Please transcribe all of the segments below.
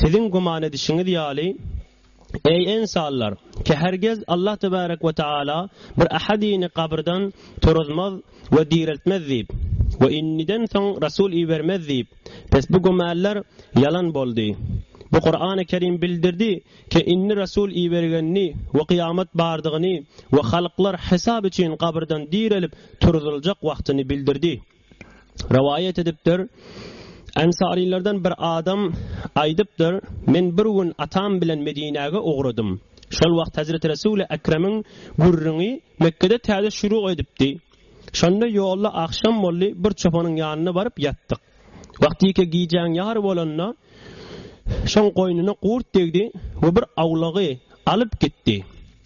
Siziň güman edişiňiz ýaly, eý, ynsanlar, ki hergiz Allah tebärek we taala bir ähedyny gabyrdan turuzmaz we direltmez diýip, we indiden soň resul ibermez diýip, pes bu gümäller ýalan boldy. Bu Kurany Kerim bildirdi, ki indi resul ibergenini we kyýamat bardygyny we halklar hesap üçin gabyrdan direlip turuzyljak wagtyny bildirdi. Rowaýat edipdir, Ensarylardan bir adam aýdypdyr, Men bir gün atam bilen Medinäge ugradym. Şol wagt Hezreti Resuli Ekremiň gürrüňi Mekgede täze şuru edipdi. Şonda ýolda agşam boldy, bir çopanyň ýanyna baryp ýatdyk. Wagtyke gijäň ýary bolanda, Şoň goýnuna gurt degdi we bir awlagy alyp gitdi.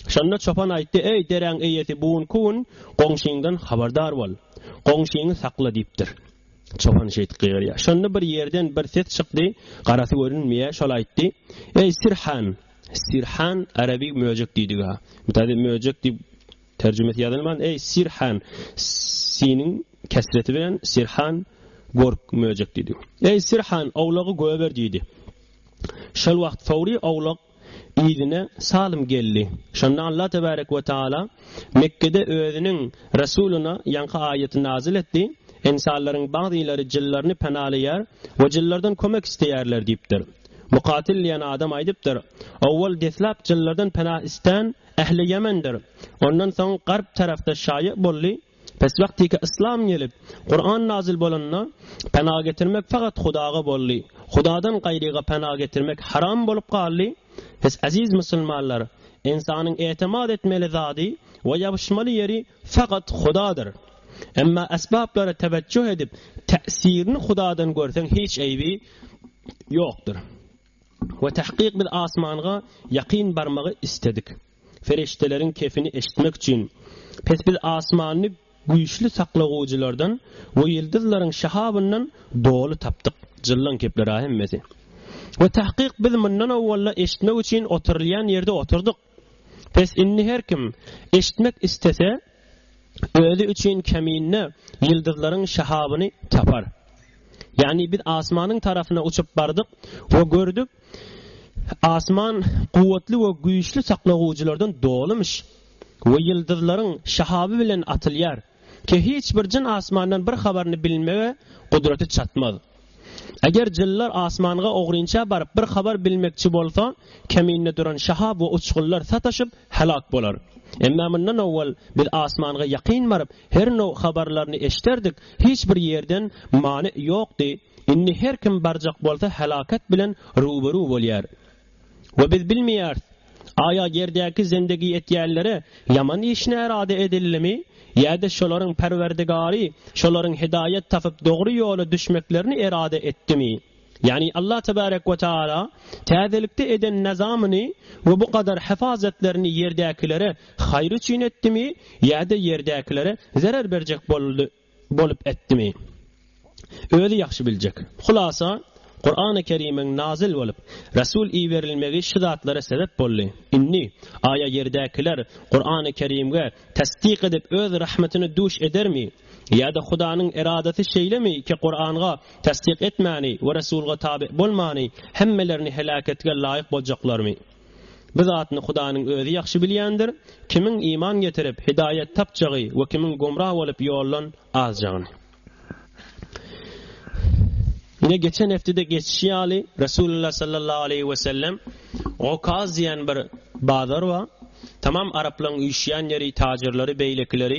Şonda çopan aýtdy, Eý, deräň eýesi, bu gün ku gün goňşyňdan habardar bol. Goňşyňy sakla diýipdir. Çopan şeýdip gygyrýar. Şonda bir ýerden bir ses çykdy, garasy görünmeýär, şol aýtdy, Eý, sirhan! Sirhan arabi möjek diýdigi-ha. Taze möjek diýip Terjimesi ýazylman, Eý, Sirhan, siniň kesreti bilen Sirhan, gork, möjek diýdi. Eý, Sirhan, owlagy goýber diýdi. Şol wagt Sawry owlak yzyna salym geldi. Şonda Allah tebärek we taala Mekgede Özüniň Resulyna ýaňky aýaty nazil etdi, Ynsanlaryň bagzylary jynlaryny penalaýar we jynlardan kömek isleýärler diýipdir. Mukatil diýen adam aýdypdyr, Owal deslap jynlardan pena islän, Ähli Ýemendir. Ondan soň garp tarapda şaýa boldy, Peswagtyka yslam gelip, Kuran nazyl bolanda, pena getirmek fakat Hudaga boldy. Hudadan gaýryga pena getirmek haram bolup galdy. Siz, eziz musulmanlar, ynsanyň etemat etmeli zady we ýabyşmaly ýeri fakat Hudadyr. Emma esbaplara tewejjuh edip, täsirini Hudadan görseň hiç eýbi ýokdur. We tahkyk biz asmanga ýakyn barmagy isledik, perişdeleriň kefini eşitmek üçin, pes biz asmany güýçli saklagujylardan we ýyldyzlaryň şahabyndan doly tapdyk, jyllan kepler-a hemmesi. We tahkyk biz mundan owwal-da eşitmek üçin oturylýan ýerde oturdyk. Bes indi her kim eşitmek istese özi üçin keminde ýyldyzlaryň şahabyny tapar. Ýagny biz asmanyň tarapyna uçup bardyk we gördük asman kuwwatly we güýçli saklagujylardan dolymyş we ýyldyzlaryň şahaby bilen atylýar. Ki hiç bir jyn asmandan bir habaryny bilmege gudraty çatmaz. Eger jynlar asmanga ogrynça baryp bir habar bilmekçi bolsa, keminde duran şahab we uçgunlar sataşyp, helak bolar. Emma mundan owal biz asmanga ýakyn baryp, her now habarlaryny eşderdik, hiç bir ýerden many ýokdy, indi her kim barjak bolsa helaket bilen ruberu bolýar. We biz bilmeýäris, aýa ýerdäki zendegi etýänlere ýaman iş närada edildimi, ýa-da şolaryň Perwerdigary şolaryň hidaýat tapyp dogry ýola düşmeklerini erada etdimi. Ýagny Allah tebarek we taala täzelikde eden nazamyny we bu gadar hyfazatlaryny ýerdäkilere haýyr üçin etdimi, ýa-da ýerdäkilere zerer berjek boldy. bolup etdimi? Özi ýagşy biljek. Hulasa, Kurany Kerimiň nazyl bolup, Resul iberilmegi şu zatlara sebep boldy. Indi, aýa ýerdäkiler Kurany Kerimge tassyk edip öz rahmatyny duş edermi? Ýa-da Hudanyň eradasy şeýlemi ki Kuranga tassyk etmäni we Resulga tabi bolmany hemmelerini heläketge laýyk boljaklarmy? Bu zatny Hudanyň Özi ýagşy bilýändir, kimiň iman getirip, hidaýat tapjagy we kimiň gomra bolup ýoldan azjagyny. Ine geçen hepdede geçişi ýaly, Resulullah sallallahu aleýhi we sellem Okaz diýen bir bazar bar. Tamam araplaryň üýşýän ýeri, tajirleri, beýlekileri.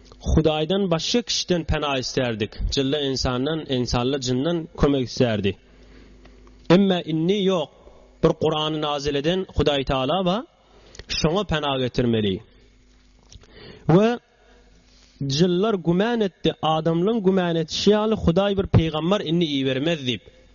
Hudaýdan başga kişiden pena islärdik, jylla ynsandan, ynsalla jyndan kömek islärdi. Emma indi ýok, bir Kurany nazil eden Hudaý Tagala bar, şoňa pena getirmeli. We jyllar güman etdi, adamlaň güman etişi ýaly Hudaý bir pygambar indi ibermez diýip.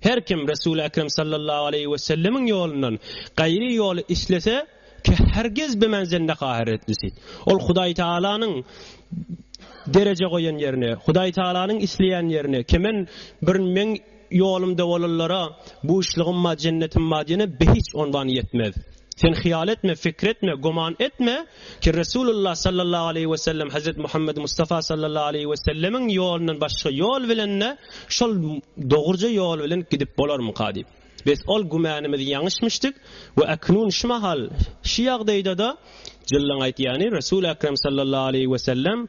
Her kim Resul-i Ekrem sallallahu aleýhi we sellemiň ýolundan gaýry ýoly islese, kähergiz bimen jennet ahiretlisi. Ol Hudaý Tagalanyň dereje goýan ýerine, Hudaý Tagalanyň isleýän ýerine, kemen bir meň ýolumda bolanlara buşlugym bar, jennetim bar diýene behiç onwan ýetmez. Sen hyýal etme, pikir etme, güman etme ki, Resulullah sallallahu aleýhi we sellem Hazret Muhammed Mustafa sallallahu aleýhi we sellemiň ýolundan başga ýol bilen-de şol dogruja ýol bilen gidip bolarmyka diýip. Bes ol gümanymyz ýaňyşmyşdyk we äknun şu mahal, şu ýagdaýda-da jyllyň aýtýany Resul Ekrem sallallahu aleýhi we sellem,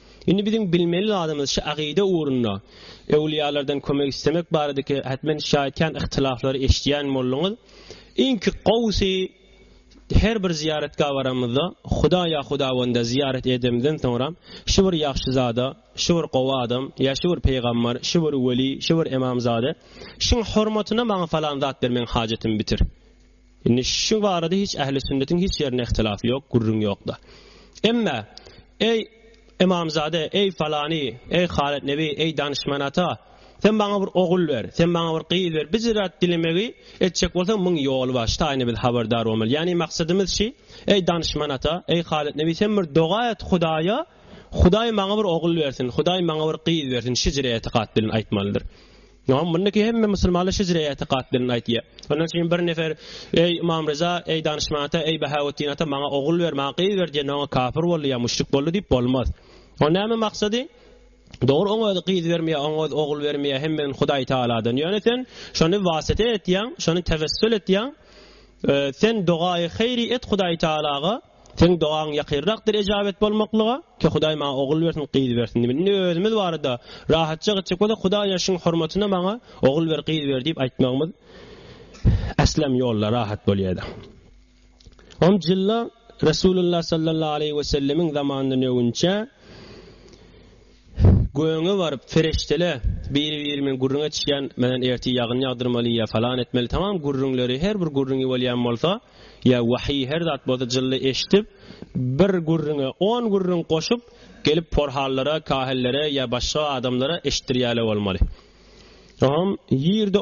Indi biziň bilmeli zadymyz şu agyda ugrunda öwliýalardan kömek islemek baradaky ätmen şaýatjan ihtilaflary eşidýän bolduňyz. Iňki gowusy her bir zyýaratgaha baramyzda Huda ýa Hudawanda zyýarat edemizden soňra şu bir ýagşyzada, şu bir gowy adam, ýa şu bir peýgamber, şu bir weli, şu bir emamzada şuň hormatyna maňa falan zat bermegiň hajatyny bitir. Indi şu barada hiç ähli sünnetiň hiç ýerinde ihtilaf ýok, gürrüň ýok-da. Emma, Eý, ymamzada, eý, falany, eý, Halyt nebi, eý, danyşman ata, sen maňa bir ogul ber, sen maňa bir gyz ber, biz zat dilemegi etjek bolsaň, müň ýoly bar, şu taýyny biz habardar bolmaly. Ýagny maksadymyz şi, Eý, danyşman ata, eý, Halyt nebi, sen bir doga et Hudaýa, Hudaý maňa bir ogul bersin, Hudaý maňa bir gyz bersin, şi jire etikat bilen aýtmalydyr. Ýa mundaky hemme musulmanlar şejre ýatikat bilen aýtýar. Ondan şeýle bir nefer eý Ymam Ryza, eý Danyşman ata, eý Bahawetdin ata maňa ogul ber, maňa gyz ber diýende oňa kafir boldy ýa müşrik boldy diýip bolmaz. Oň näme maksady? Dogry oň özi gyz bermeýär, oň özi ogul bermeýär, hemmeden Hudaý Tagaladan. Ýöne sen şony wasita etýäň, şony tewessül etýäň. Sen dogaýy haýry et Hudaý Tagalaga. Seň dogaň ýakyrrakdyr ejabet bolmaklyga, ki Hudaý maňa ogul bersin, gyz bersin diýmeli. Indi özümiz barada rahatja gitjek bolsak, Hudaý ýaşyň hormatyna maňa ogul ber, gyz ber diýip aýtmagymyz äslem ýolda rahat bolýady. On jylla Resulullah sallallahu aleýhi wesellemiň zamanyndan öwünçä, Göge baryp, Fereştele, biri-birimiň gürrüň etişýän, Menen ertir ýagyn ýagdyrmaly ýa falan etmeli tamam gürrüňleri, her bir gürrüňi bolýan bolsa, ýa wahyý her zat bolsa jylla eşidip, bir gürrüňe on gürrüň goşup, gelip porhallara, kahillere ýa başga adamlara eşitdirýäle bolmaly. Oňam ýerde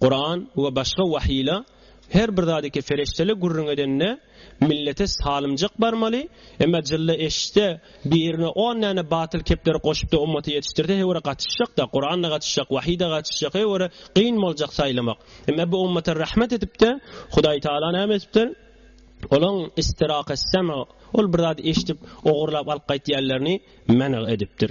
Kuran we başga wahyla her bir zady ki feriştele gürrüň edende millete salymjak barmaly, emma jylla eşitse birine on dane batyl kepleri goşupda ummaty ýetişdirse heý ora gatyşjakda, Kuranda gatyşjak, wahyda gatyşjak heý ora kyn boljak saýlamak. Emma bu ummata rahmet edipde Hudaý Taala name edipdir? Olaň istiraka sema ol bir zady eşidip ogurlap alyp gaýtýanlaryny menag edipdir.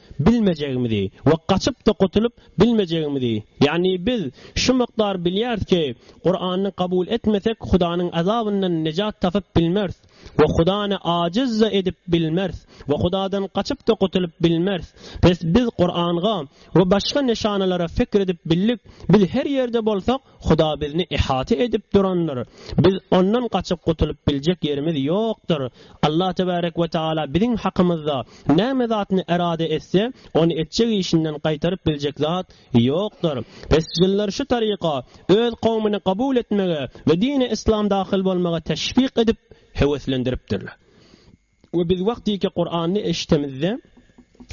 bilmejegimizi we gaçyp-da gutulyp bilmejegimizi, ýagny biz şu mukdar bilýäris ki, Kurany kabul etmesek Hudanyň azabyndan nejat tapyp bilmeris we Hudany ajiz-da edip bilmeris we Hudadan gaçyp-da gutulyp bilmeris. Bes biz Kuranga we başga neşanalara fikr edip bildik, biz her ýerde bolsak, Huda bizni ihata edip durandyr. Biz Ondan gaçyp gutulyp biljek ýerimiz ýokdur. Allah tebärek we taala biziň hakymyzda näme zatyny erade etse, ony etjek işinden gaýtaryp biljek zat ýokdur. Pes jynlar şu taryka öz kowmuny kabul etmege we dini islam dahyl bolmaga teşwik edip höweslendiripdirler. We biz wagtyky Kurany eşitemizde,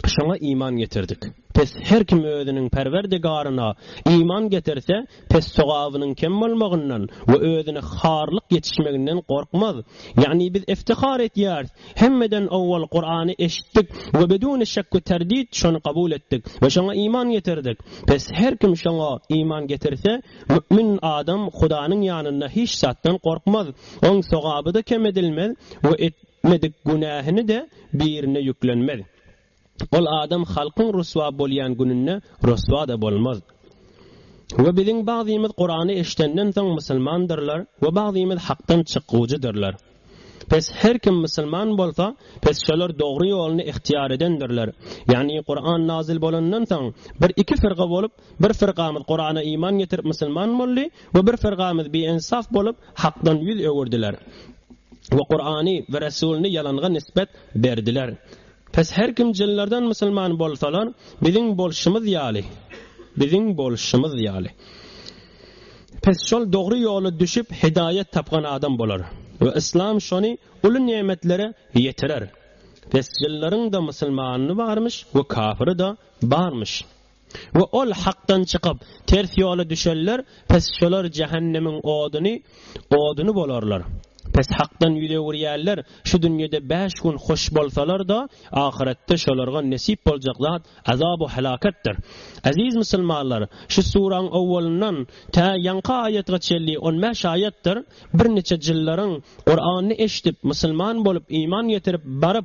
şoňa iman getirdik. Pes her kim özüniň Perwerdigaryna iman getirse, pes sogabynyň kem bolmagyndan we özüne harlyk ýetişmeginden gorkmaz. Ýagny biz iftihar etýäris, hemmeden owwal Kurany eşitdik we beduni şek we terdit şony kabul etdik we şoňa iman getirdik. Pes her kim şoňa iman getirse, mu'min adam Hudanyň ýanynda hiç zatdan gorkmaz. Oň sogaby-da kem edilmez we etmedik günähini-de birine ýüklenmez. Ol adam halkyň ryswa bolýan gününde ryswa-da bolmaz. We biziň bagzymyz Kurany eşidenden soň musulmandyrlar we bagzymyz hakdan çykgujydyrlar. Pes her kim musulman bolsa, pes şolar dogry ýoluny ihtiýar edendirler. Ýagny Kuran nazyl bolandan soň bir iki firga bolup, Bir firgamyz Kurana iman getirip musulman boldy we bir firgamyz biensaf bolup Hakdan ýüz öwürdiler we Kurany we Resulyny ýalanga nisbet berdiler. Pes her kim jynlardan musulman bolsalar biziň bolşumyz ýaly, biziň bolşumyz ýaly. Pes şol dogry ýola düşüp hidaýat tapgan adam bolar we Islam şony uly nemetlere ýetirer. Pes jynlaryň-da musulmany barmyş we kafyry-da barmyş. we ol hakdan çykyp, ters ýola düşenler, pes şolar jähennemiň oduny, oduny bolarlar. Pes hakdan ýüz öwürýänler, şu dünýede bäş gün hoş bolsalar-da, ahyretde şolarga nesip boljak zat azabu helaketdir. Eziz musulmanlar, şu suraň owwalyndan tä ýaňky aýatga çenli on bäş aýatdyr, birniçe jyllaryň Kurany eşdip, musulman bolup, iman getirip, baryp,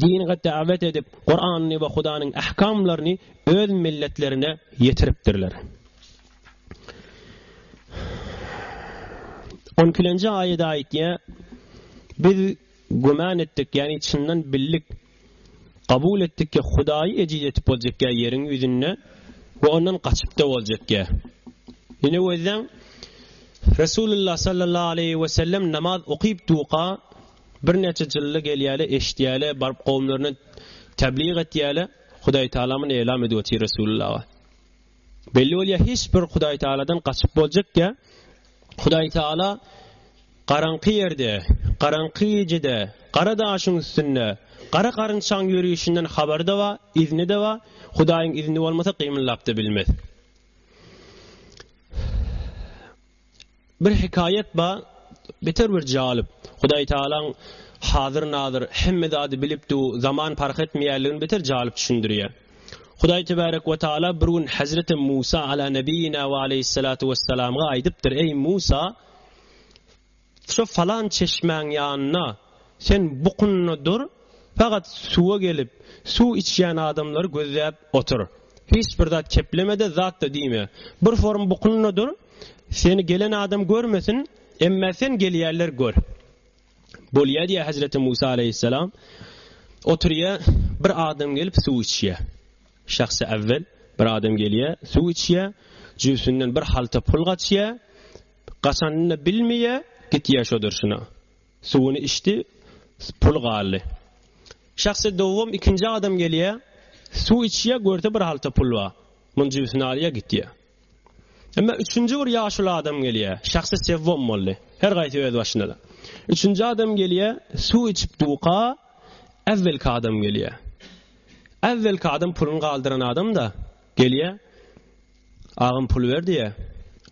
dine dawet edip, Kuranyny we Hudanyň ähkamlaryny öz milletlerine ýetiripdirler. On ikilenji aýat aýtýa, Biz güman etdik, ýagny çyndan bildik, kabul etdik ki, Hudaýy ejiz etip boljak ýa ýeriň ýüzünde we ondan gaçyp-da boljak ýa. Ine gözden, Resulullah sallallahu aleyhi ve sellem namaz okuyup duka, Bir näçe jylla gelýäle eşitýäle baryp gowumlaryna tebliğ etýäle Hudaý Tagalamyn elam edip otyr Resulullah. Belli bolýa hiç bir Hudaý Tagaladan gaçyp boljak ýa Hudaý Tagala garaňky ýerde, garaňky gijede, gara daşyň üstünde, gara garynçaň ýörüşinden habary da bar, izni de bar, Hudaýyň izni bolmasa gymyllap da bilmez. Bir hekaýat bar, beter bir jalyp. Hudaý Tagalaň Hazyr-Nazyr, hemme zady bilip dur, zaman parh etmeýänligini beter jalyp düşündirýär. Hudaý Tebärek we Tagala bir gün Hezreti Musa Alâ Nebiyyina ve Aleyhissalâtu Vesselamga aýdypdyr, Eý Musa! Şo falan çeşmäň ýanynda sen bukunna dur, fagat suwa gelip, suw içýän adamlary gözläp otur. Hiç bir zat kepleme-de, zat-da diýme. Bir forum bukunna dur, Seni gelen adam görmesin, emma sen gelýänler gör. Bolýar diýýär Hezreti Musa aleýhissalam. Oturýar, bir adam gelip suw içýär. Şahsy awwel bir adam gelýär, suw içýär, jübsünden bir halta pul gaçýar. Gaçanyny bilmeýär, gitýär şo durşuna. Suwuny içdi, pul galdy. Şahsy dowam ikinji adam gelýär, suw içýär, görse bir halta pul bar. Muny jübsüne alýar, gitýär. Emma üçünji bir ýaşuly adam gelýär. Şahsy sewwom boldy. Her gaýsy öz başyna-da. Üçünji adam gelýär, suw içip duka, äwwelki adam gelýär. Äwwelki adam puluny galdyran adam-da gelýär. Agam pul ber diýär.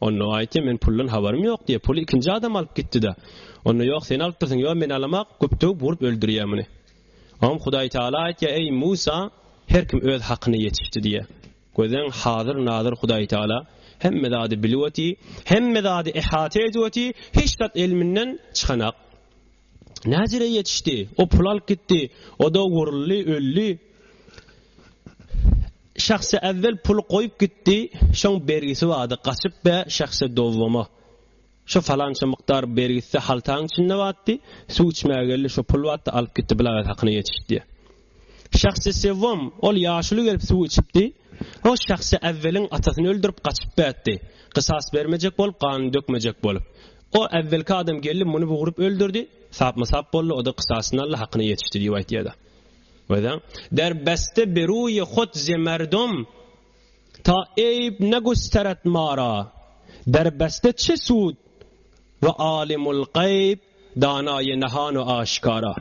Onda aýtýar, men puldan habarym ýok diýär. Puly ikinji adam alyp gitdi-de. Onda ýok, sen alypdyrsyň. Ýok, men alamak, güpdügip urup öldürýär muny. Oňam Hudaý Taala aýtýar, eý Musa, her kim öz hakyny ýetişdi diýär. Gözeň, Hazyr Nazyr Hudaýtagala hemme zady bilip oty, hemme zady ehata edip oty, hiç zat elminden çykanak. Näjere ýetişdi, o pul alyp gitdi, o-da uruldy, öldi. Şahsy äwwel puly goýup gitdi, şoň bergisi bardy, gaçyp bä şahsy dowwama. Şo falança mukdar ber gitse haltaň içinde batdy, suw içmäge geldi şo pul batdy alyp gitdi bilagat hakyna ýetişip diýýär. Şahsy Sewwam ol ýaşuly gelip suw içipdi, o Şahsy Äwweliň atasyny öldürip gaçyp bätdi, gysas bermejek bolup ganyny dökmejek bolup. O äwwelki adam geldi muny bugrup öldürdi, sapma sap boldy oda gysasyny aldy hakyna ýetişdi diýip aýtýada. Görýäň? Der beste beruye hot zemerdom Ta Eýýub ne gösteret mara, berbeste çe sud we Alymul gaýb, danaýy nahan we aşkara.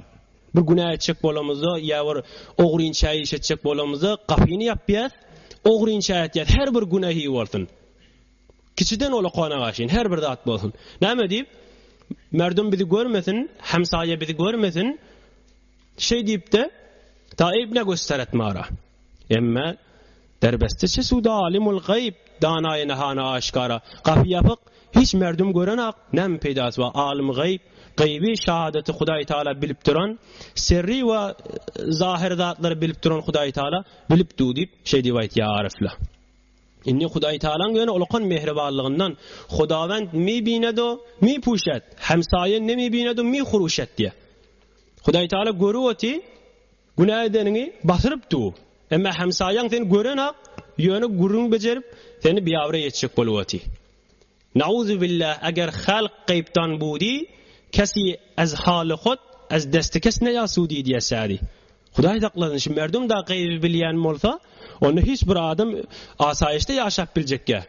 Bir günä etjek bolamyzda ýa bir ogrynça iş etjek bolamyzda gapyny ýapýas, ogrynça etýäs, her bir günehi bolsun. Kiçiden ulakana gaşyn, her bir zat bolsun. Näme diýip, merdum bizi görmesin, hemsaýa bizi görmesin. Şeý diýip-de, Ta Eýýub ne gösteret mara. Emme derbeste çe suda alimul gaýyp, danaýy nahana aşkara, gapy ýapyk, hiç merdum görenok, näme peýdasy bar, alim gaýyp, gaýyby, şahadaty Hudaý Taala bilip duran, serri we zahyry zatlary bilip duran Hudaý Taala bilip du diýip, şeý diýip aýtýar arifler. Indi Hudaý Taalaň ýöne ulakan mähribanlygyndan, Hudawend mi binedo, mi puşet, hemsaýa ne mi binedo, mi huruşet diýýär. Hudaý Taala görüp oty, Günä edeniňi batyryp dur. Emma hemsaýaň seni gören-ak, ýöne gürrüň bejerip, seni biabraý etjek bolup otyr. Nauzubillah, eger halk gaýypdan budi, kesi ez haly hot, ez desti kes ne ýa sudi diýýär şaýry. Hudaý saklasyn, şu merdum-da gaýyby bilýän bolsa, onda hiç bir adam asaýyşda ýaşap biljekkä?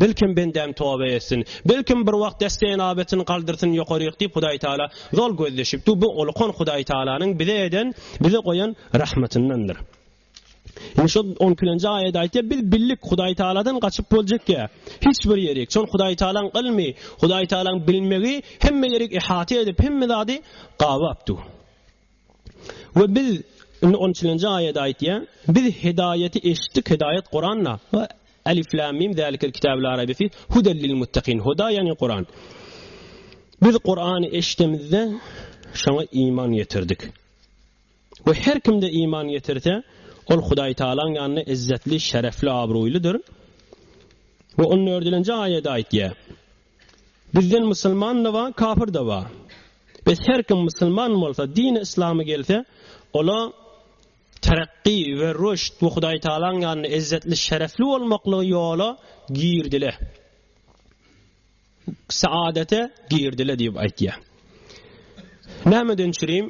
Belkem bendäm toba etsin. Belkem bir wagt destenabetini galdyrsyn ýokaryk diýip Hudaýtagala zol gözleşip dur. Bu ulukan Hudaýtagalanyň bize eden, bize goýan rahmatyndandyr. Indi şol on ikilenji aýat aýtýar, biz bildik Hudaýtagaladan gaçyp boljak ýer. Hiç bir ýerik. Şol Hudaýtagalaň ylmy, Hudaýtagalaň bilmegi hemme ýerik ihata edip, hemme zady gabap dur. We biz, indi on üçünji aýat aýtýar, Biz hidaýaty eşitdik, hidaýat Kuranda, we, Elif Lam Mim zalikel kitabu la raybe fih huden lil muttakin, Huda ýagny Kuran. Biz Kurany eşidemizde şoňa iman getirdik. We her kimde iman getirse, ol Hudaý Tagalaň ýanynda izzetli, şerefli, abraýlydyr. We on dördünji aýat aýtýar. Bizden musulman-da bar, kapyr-da bar. Biz her kim musulman bolsa, dini yslamy gelse, ola terakki we rüşt we Hudaýtagalaň ýanynda ezzetli, şerefli bolmaklygy ýola girdile. Saadete girdile diýip aýtýar. Nämeden çürim?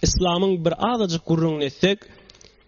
Yslamyň bir azajyk gürrüňini etsek,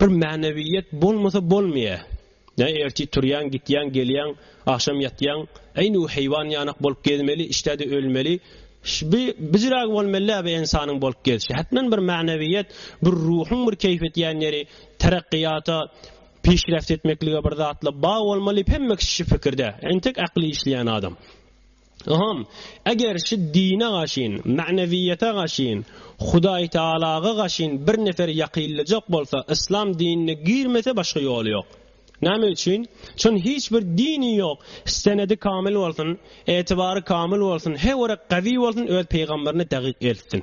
Bir mänewiýet bolmasa bolmaýa. Näme ertir turýaň, gitýäň, gelýäň, agşam ýatýaň, äýnüw heýwan ýanak bolup gezmeli, işdäde ölmeli. Şbi bijirägi bolmelidä bi ensanyň bolup gezişi. Hätmen bir mänewiýet, bir ruhuň bir keýp etýän ýeri, terakkiýata, pişreft etmeklige bir zatla baý bolmaly, hemme kişi şu pikirdä. Entek akly işleýän adam. Yham, eger şu dine gaşyn, magnewiýete gaşyn, Hudaý Taalaga gaşyn bir nefer ýakynlyjak bolsa, yslam dinine girmese başga ýoly ýok. Näme üçin? Çün hiç bir dini ýok, senedi kamyl bolsun, etibary kamyl bolsun, he görek gawi bolsun öz peýgamberini dagyk eltsin.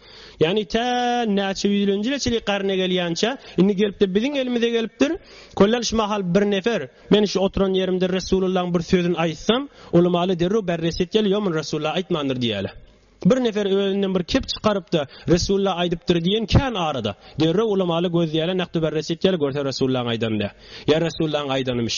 Ýagny tä näçe ýüzlenji ýyla çenli garny gelýänçä, indi gelip-de biziň elimize gelipdir. Kollal şu mahal bir nefer, men şu oturan ýerimde Resulullahyň bir sözüni aýtsam, ulamaly derrew berres etýäler, ýok muny Resulullah aýtmandyr diýýäler. Bir nefer özünden bir kep çykaryp-da, Resulullah aýdypdyr diýen kän arada. Derrew ulamaly gözleýäler, nakdy berres etýäler, görse Resulullahyň aýdany dä. Ýa Resulullahyň aýdanymyş.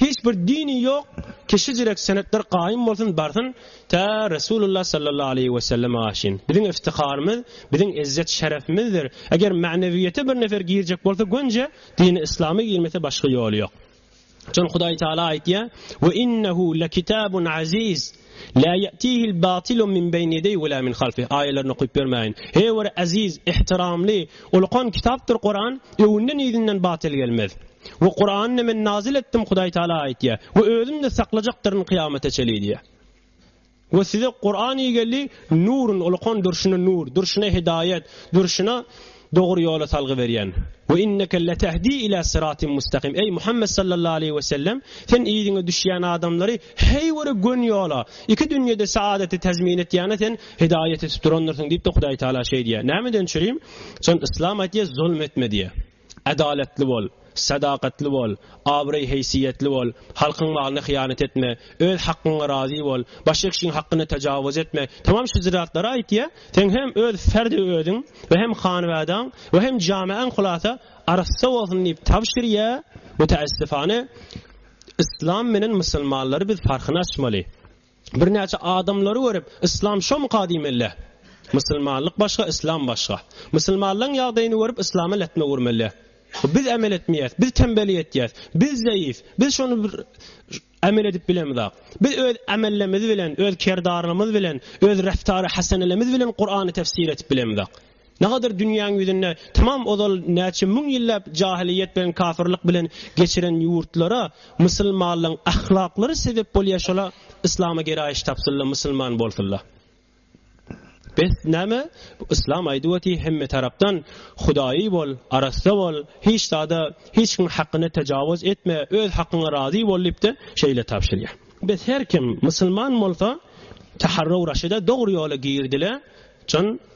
Hiç bir dini ýok kişi jirek senetler gaýym bolsun barsyn tä Resulullah sallallahu aleýhi we sellem aşyn. Biziň iftiharymyz, biziň ezzet şerefimizdir. Eger magnewiýete bir nefer girjek bolsa gönje dini islama girmese başga ýoly ýok. Jan Hudaý Taala aýtýar, we innehu lekitabun aziz. Lâ ýe'tîhil bâtilu min beýni ýedeýhi we lâ min halfihi aýalaryny okyp bermäýin. He bir eziz, ihtiramly, ulkan kitapdyr Kuran, öňünden-yzyndan batyl gelmez. We Kurany Men nazil etdim Hudaý Tagala aýtýar. We Özüm-de saklajakdyryn kyýamata çenli diýýär. We size Kurany geldi, Nurun, ulkan durşuna nur, durşuna hidaýat, durşuna dogry ýola salgy berýän. Ve inneke letehdi ila sıratim mustakim, eý Muhammed sallallahu aleýhi ve sellem, sen yzyňa düşýän adamlary heý bir gön ýola, iki dünýede saadaty tezmin etýäne sen hidaýat etip durandyrsyň diýip de Hudaý Taala şeýdýär. Nämeden çürim? Şon Yslam aýtýar, zulm etme diýýär. Adalatly bol. Sadakatly bol, abraý-heýsiýetli bol, halkyň malyna hyýanat etme, öz hakgyňa razy bol, başekşiň hakgyna tajawuz etme, tamam şu ziratlary aýtýa, seň hem öz ferdi özüň we hem hanbadaň we hem jameaň hulasa arassa bolsun diýip tabşyrýa, müteessifane Yslam menen musulmanlary biz parhyny açmaly. Birnäçe adamlary görüp, Yslam şomyka diýmeli. Musulmanlyk başga, Yslam başga. Musulmanlaň ýagdaýyny görüp, Yslama lätme urmeli. Biz emel etmeýäs, biz tembellik etýäs, biz zeýif, biz şony bir emel edip bilemizak. Biz öz emellemz bilen, öz kerdarlymyz bilen, öz reftary hasenelemiz bilen Kurany tefsir edip bilemizak. Nagadyr dünýäň ýüzünde tamam ozal näçe müň ýylläp jahylyýet bilen kafyrlyk bilen geçiren ýurtlara musylmanlyň ahlaklary sebep bolýa şola yslama geraýyş tapsynla musylman bolsynla bes näme yslam aýdyp oty hemme tarapdan hudaýy bol arassa bol hiç zada hiç kim hakyna tajawuz etme öz hakyňa razy bol diýipde şeýle tabşyrýa bes her kim musylman bolsa taharraw raşyda dogry ýola girdile can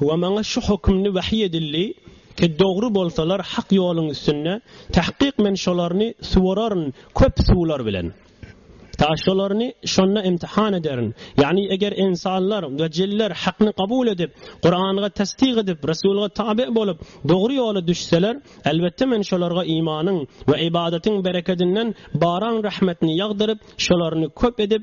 We maňa şu hökümli wahyý edildi, Ki dogry bolsalar hak ýoluň üstünde, tahkyk men şolaryny suwararyn köp suwlar bilen. Ta şolaryny şonda imtihan ederin. Ýagny eger ynsanlar we jinler hakny kabul edip, Kuranga tassyk edip, Resulga tabe bolup, dogry ýola düşseler, elbetde men şolarga imanyň we ybadatyň berekedinden baran rahmetini ýagdyryp, şolaryny köp edip,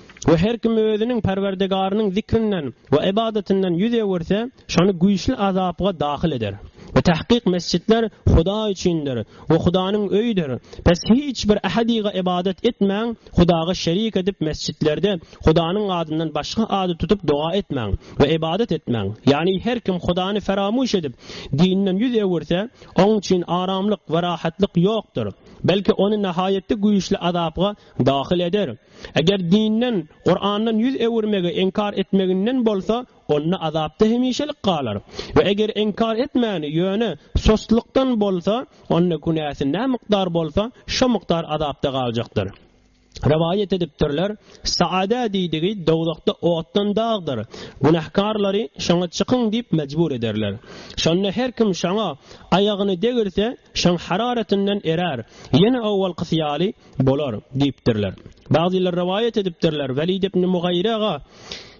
We her kim özüniň Perwerdegarynyň zikrinden we ybadatynden ýüz öwürse, şony güýçli azapga dahyl eder. We tahkyk mesjitler Hudaý üçindir we Hudanyň öýüdir. Pes hiç bir ähedyga ybadat etmäň, Hudaga şerik edip mesjitlerde Hudanyň adyndan başga ady tutup doga etmäň we ybadat etmäň. Ýagny her kim Hudany feramyş edip, dinden ýüz öwürse, oň üçin aramlyk we rahatlyk ýokdur. Belki ony nahaýatda güýçli azapga Dahyl eder. Eger dinden, Kurandan ýüz öwürmegi inkar etmeginden bolsa, onda azapda hemişelik galar. We eger inkar etmäni, ýöne sostlykdan bolsa, onda günäsi nä mukdar bolsa, şo mukdar azapda galjakdyr. Rowaýat edipdirler, Saada diýdigi dowzahda otdan dagdyr. Günähkarlary şoňa çykyň diýip mejbur ederler. Şonda her kim şoňa aýagyny degirse, şoň hararatynden erär. Ýene owalkysy ýaly, Bolar, diýipdirler. Bagzylar rowaýat edipdirler, Welid ibn Mugaýyraga,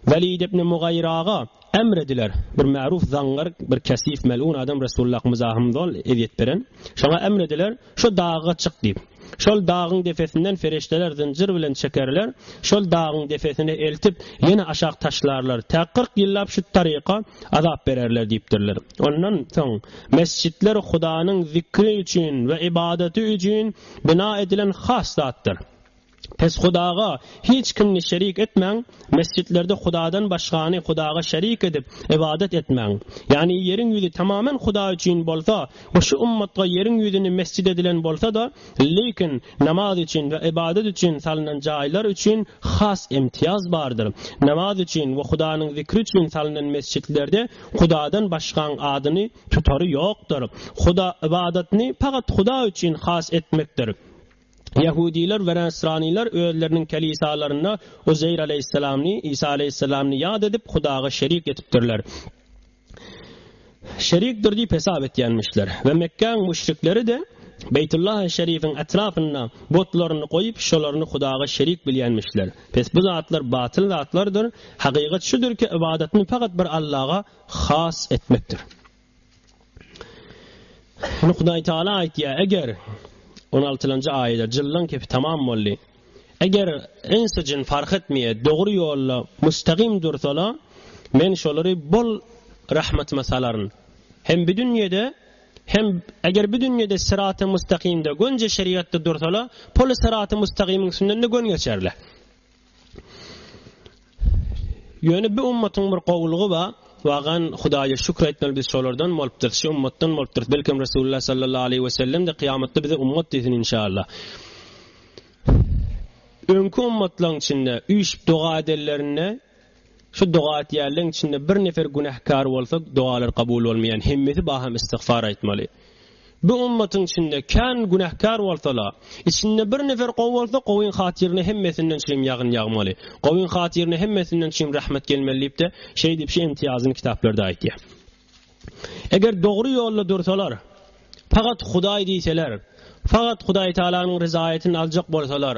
Welid ibn Mugaýyraga, emr ediler. Bir märuf zaňňar, bir kesif, melun adam Resullahymyza hem zol ezýet beren. Şoňa emr ediler, Şo daga çyk diýip. Şol dagyň depesinden ferişdeler zynjyr bilen çekerler, şol dagyň depesine eltip, ýene aşak taşlarlar. Tä kyrk ýyllap şu taryka azap bererler diýipdirler. Ondan soň, mesjitler Hudanyň zikri üçin we ybadaty üçin, bina edilen has zatdyr. Pes Hudaga hiç kimni şerik etmäň, mesjitlerde Hudadan başgany Hudaga şerik edip, ybadat etmäň. Ýagny ýeriň ýüzi tamamen Huda üçin bolsa we şu ummatga ýeriň ýüzüni mesjit edilen bolsa-da, lekin namaz üçin we ybadat üçin salnan jaýlar üçin has imtiýaz bardyr. Namaz üçin we Hudanyň zikri üçin salnan mesjitlerde Hudadan başgaň adyny tutary ýokdur. Huda ybadatyny pagat Huda üçin has etmekdir. Ýahudylar we näsranylar özleriniň kelisalarynda Uzeýr aleýhissalamny, Isa aleýhissalamny ýat edip, Hudaga şerik etipdirler. Şerikdir diýip hesap etýänmişler. We Mekgäň müşrikleri-de Beýtullahy şerifiň etrapynda butlaryny goýup, şolaryny Hudaga şerik bilýänmişler. Pes bu zatlar batyl zatlardyr. Hakykat şudur ki, ybadatny fakat bir Allaha has etmekdir. Muny Hudaý Taala aýtýar, eger 16-njy aýada jyllan kepi tamam boldy. Eger insi jin fark etmeýe dogry ýolda mustagym dursala, men şolary bol rahmatyma salaryn. Hem bu dünýede Hem, eger bu dünýede syraty mustakymda gönje şerigatda dursalar, poly syraty mustagymyň üstünden-de gön geçerler. Ýöne bu ummatyň bir gowulygy bar, wagan Hudaýa şükür etmeli biz şolardan bolupdyrys, şu ummatdan bolupdyrys, belkem Resulullah sallallahu aleýhi we sellem-de kyýamatda bize ummat diýsin inşallah. Öňki ummatlaryň içinde üýşüp doga edenlerinde Şu doga etýänleň içinde bir nefer günähkär bolsa dogalar kabul bolmaýan hemmesi baham istigfar aýtmaly. Bu ümmatyň içinde kän günähkär bolsala, içinde bir nefer gowy bolsa gowyň hatyryna hemmesinden çüým ýagyn ýagmaly, gowyň hatyryna hemmesinden çüým rahmet gelmeli diýipde şeýdip şu imtiýazyny kitaplarda aýtýar. Eger dogry ýolda dursalar, pagat Hudaý diýseler, fagat Hudaý Taalanyň ryzaýatyny aljak bolsalar,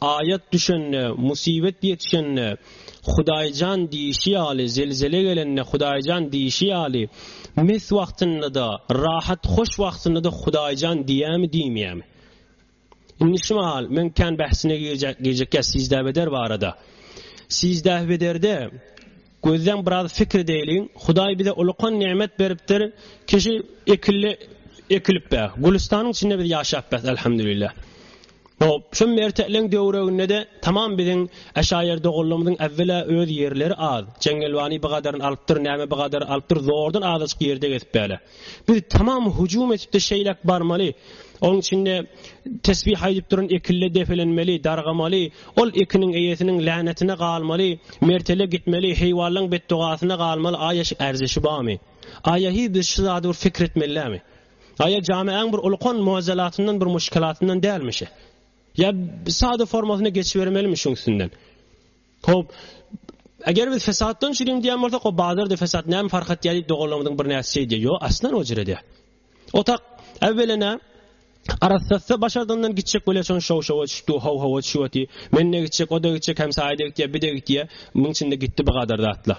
Aýat düşende, musibet ýetişende, Hudaýjan diýişi ýaly, zelzele gelende, Hudaýjan diýişi ýaly, mes wagtynda-da, rahat, hoş wagtynda-da Hudaýjan diýämi, diýmeýämi? Indi şu mahal, men kän bähsine girjek, girjek ýa sizdäbeder barada. Sizdähbederde Gözleň biraz fikr edeýliň, Hudaý bize ulukan nemet beripdir, kişi ekilli ekilip be, gülüstanyň içinde biz ýaşap bes Elhamdülillah. Hop, şu mertekleň döwreginde-de tamam biziň Äşaýer doganlarymyzyň äwwela öz ýerleri az, Jeňňelwany bigadary alypdyr, näme bigadary alypdyr, zordan azajyk ýerde gezip bele. Biz tamam hüjüm edip-de şeýläk barmaly. Onuň içinde tesbih aýdyp duran ekille depelenmeli, dargamaly, ol ekiniň eýesiniň länetine galmaly, mertele gitmeli, heýwanlaň betdogasyna galmaly, aýa şu erzeşi barmy? Aýa hi biz şu zady bir pikir etmelidämi? Aýa jameäň bir ulkan muazalatyndan bir muşkalatyndan dälmi şe? Ýa sada formasyna geçibermelimi şuň üstünden? Hop. Eger biz fesatdan çürüň diýen bolsak, o bazarda fesat näme fark etýär diýip doganlarymyzyň bir näsi şeýdi. Ýo, aslan o jere diýär. Otak äwwelene Arassatda başardyndan gitjek bolýar, şoň şow-şowa düşüpdi, how-howa düşüpdi. Men-de gitjek, o-da gitjek, hem saýda gitýär, bir-de gitýär. Muň içinde gitdi bu gadar zatlar.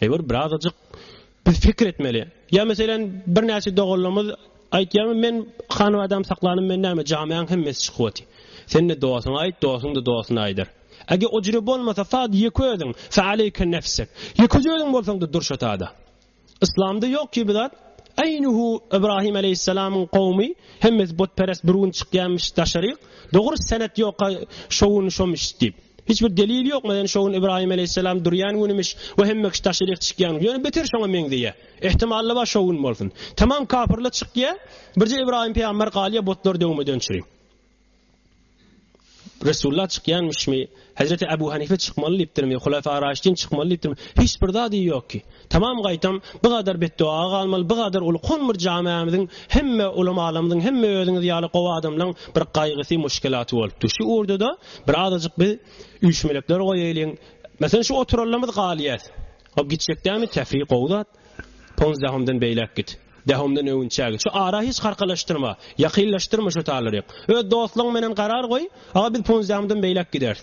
Eger birazajyk biz fikir etmeli. Ýa meselem birnäçe doganlarymyz aýtýarmy men hanabadam saklanym men näme jamiaň hemmesi çykyp oty. Sende dosuňa aýt dosuň da dosuna aýdar. Ege o jüre bolmasa sad ýeke özüň fe aleyke nefsek. Ýeke özüň bolsaň da dur şo tada. Islamda ýok ki bu zat. Eýnuhu Ibrahim aleyhissalamyň kowmy hemmesi butperest bir gün çykýarmyş daşaryk. Dogry senet ýoka şo gün şomyş diýip. Hiç bir delil ýok meýan şo gün Ibrahim aleýhissalam durýan günümiş we hemme kişi daşaryk çykýan ýöne beter şoňa meňzeýä. Ehtimalda bar şo gün bolsun. Tamam kapyrlar çykýa birje Ibrahim peýamber galýa butlar döwmeden çyry. Resulullah çykýanmyşmy? Hezreti Abu Hanife çykmaly diýipdirmi? Hulafa Raşidin çykmaly diýipdirmi? Hiç bir zady ýok ki. Tamam gaýtam bu gadar betduaga galmaly bu gadar uly kon bir jameamiziň hemme ulamalamyzyň hemme özüňiz ýaly gowy adamlaň bir gaýgysy muşkelaty bolupdy şu urdada bir azajyk biz üýşmelekler goýaýlyň meselem şu oturanlamyz galýas hop gitjek dämi tefri gowy zat pons dahomdan beýläk git dahomdan öwünçä git şu ara hiç harkalaşdyrma ýakynlaşdyrma şu talary öz dostlaň menen garar goý aga biz pons dahomdan beýläk gideris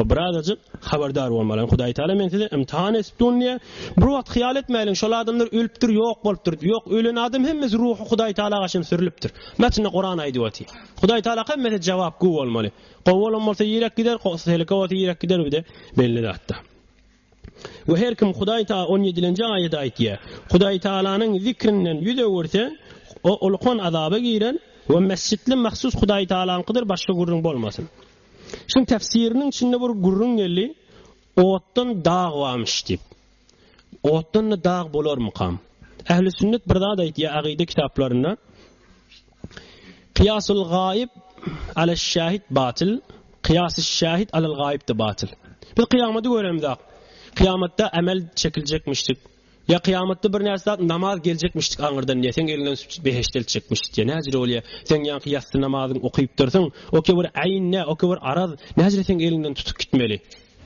O birazajyk habardar bolmaly. Hudaý Taala men size imtihan edip durun diýýär. Bir wagt hyýal etmäliň, şol adamlar ölüpdir, ýok bolupdyr. Ýok, ölen adam hemmesi ruhy Hudaý Taala gaşyn sürülipdir. Metinde Kuran aýdyp otyr. Hudaý Taala hemmesi jogap gowy bolmaly. Gowy bolan bolsa ýerek gider, seleke bolsa ýerek gider bide belli zatda. We her kim Hudaý ta on ýedilenji aýady aýtýa, Hudaýtagalanyň zikrinden ýüz öwürse, o ulkan azaba girer, we mesjitli mahsus Hudaýtagalaňkydyr başga gürrüň bolmasyn. Şuň tefsiriniň içinde bir gürrüň geldi, Otdan dag barmyş diýip. Otdan-da dag bolarmykam? Ähli sünnet bir zat aýtýa agide kitaplarynda. Kyýasul gaýyp alel şähit batyl, kyýasy şähit alel gaýyp-da batyl. Biz kyýamaty göremizok. Kyýamatda emel çekiljekmişdik. Ýa kyýamatda bir näçe zat namaz geljekmişdik aňyrdan diýýär. Seň eliňden süpjüp behişde eltjekmiş diýýär. Näjire bolýar? Seň ýaňky ýassy namazyňy okyp dursuň. Oke bir äýn ne, oke bir araz. Näjire seň eliňden tutup gitmeli?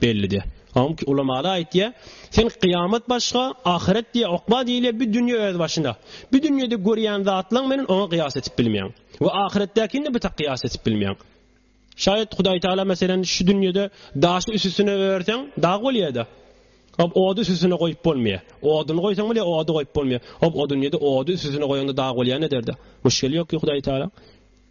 Bellidi. Awmky ulamaly aýtýa, Sen kyýamat başga, ahyret diýe okba diýilýä, bu dünýe öz başyna. Bu dünýede görýän zatlaň menen oňa kyýas etip bilmeýäň. We ahyretdäkini-de bu tak kyýas etip bilmeýäň. Şaýat Hudaý Tagala meselen şu dünýede daşy üsüstüne örseň dag bolýada. Hop ody üsüstüne goýup bolmaýa. Oduny goýsaň bile ody goýup bolmaýa. Hop o dünýede ody üsüstüne goýaňda dag bolýan ederda. Müşgeli ýok ki Hudaý Tagalaň.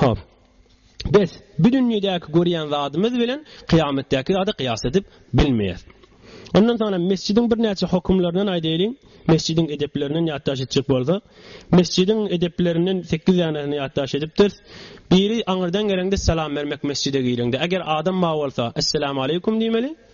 Hop. Biz bu dünýädäki görýän zadymyz bilen kyýametdäki zady kyýas edip bilmeýäs. Ondan soňra mesjidiň birnäçe hokumlaryndan aýdaýlyň. Mesjidiň edeplerinden ýatdaş etjek bolsak, mesjidiň edeplerinden 8 danesini ýatdaş edipdiris. Biri aňyrdan geleňde salam bermek mesjide gireňde. Eger adam mawy bolsa, Essalamu aleýkum diýmeli.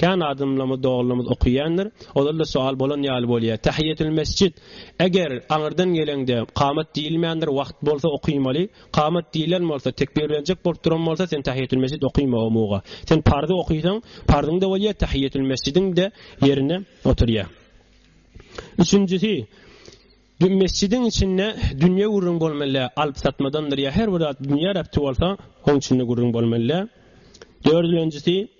Kän adamlarymyz, dogrularymyz okaýandyr. Olarda soal bolan ýaly bolýar. Tähiýetül mesjid. Eger aňyrdan geleňde kamat diýilmändir, wagt bolsa okymaly. Kamat diýilen bolsa, tekbirlenjek bolup duran bolsa, sen tähiýetül mesjid okyma o muga. Sen pardy okysaň, pardyň-da bolýar, tähiýetül mesjidiň-de ýerine oturýar. Üçünjisi, mesjidiň içinde dünýe gürrüň bolmaly däl. Alyp-satmadandyr ýa her bir zat dünýä rebti bolsa, oň içinde gürrüň bolmaly däl. Dördülenjisi.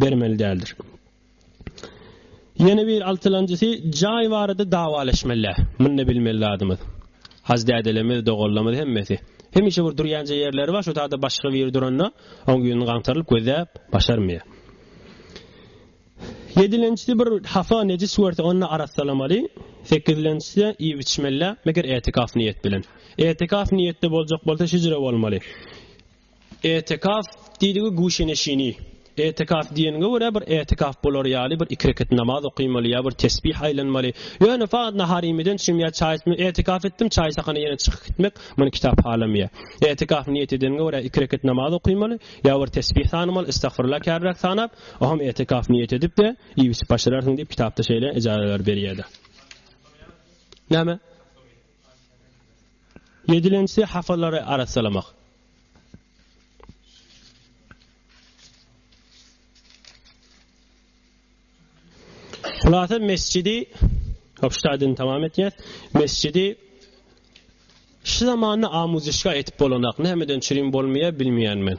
bermeli däldir. Ýene bir altylanjysy jaý barada dawaleşmelä. Munda bilmeli zadymyz. Haj dädelerimiz, doganlarymyz hemmesi. Hemişe bir durýanja ýerleri bar, şo taýda başga biri duranda, oň ýüzüni gaňtarylyp gözläp başarmaýar. Ýedilenjisi bir hapa nejis görse, onda arassalamaly. Sekizlenjisi iýip-içmelä, meger etikaf niýet bilen. Etikaf niýetde boljak bolsa, hijre bolmaly. Etekaf diýdigi guşeneşini. Etekaf diýeniňe görä bir etekaf bolar ýaly bir iki rekat namaz okymaly ýa bir tesbih aýlanmaly. Ýöne fagt nahar iýmeden çüm ýa çaý içme etekaf etdim çaý sakana ýene çykyp gitmek muny kitap halameýär. Etekaf niýet edeniňe görä iki rekat namaz okymaly ýa bir tesbih sanamal istagfirullah käbirek sanap oham etekaf niýet edip de iýip içip başararsyň diýip kitapda şeýle ejazeler berýäda. Näme? Ýedilençisi hapalary arassalamak. Hulasa mesjidi Hapştaýdan tamam etýär. Mesjidi şu zamanda amuzyşga etip bolanak. Nämeden çürim bolmaýar bilmeýän men.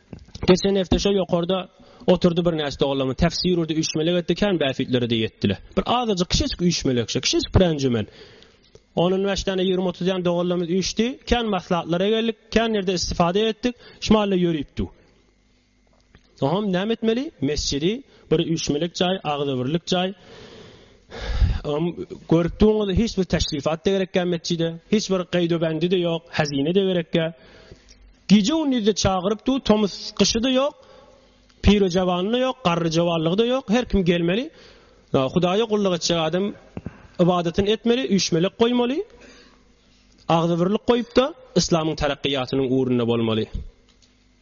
Geçen hepde şo ýokarda oturdy bir näçe doganlarymyz tefsir urdy üýşmelek etdi kän bäfitlere de ýetdiler. Bir azajyk kişejik üýşmelek şo kişejik bir enjümen. Onun beş tane ýigrimi otuz ýan doganlarymyz üýşdi. Kän maslahatlara geldik, kän ýerde istifade etdik. Şmalle ýörüpdi. Oňam näme etmeli? Mesjidi bir üýşmelek jaý, agzybirlik jaý. Görüp durňyz, hiç bir teşrifat da gerekkä metjide, hiç bir gaýdobendi de ýok, hazine de gerekkä. Gije gündiz de çagyryp dur, tomus gyşy da ýok, piri jawany da ýok, garry jawanlygy da ýok, her kim gelmeli. Hudaýa gulluk etjek adam ybadatyny etmeli, üýşmelek goýmaly. Agzybirlik goýup da, yslamyň terakkiýatynyň ugrunda bolmaly.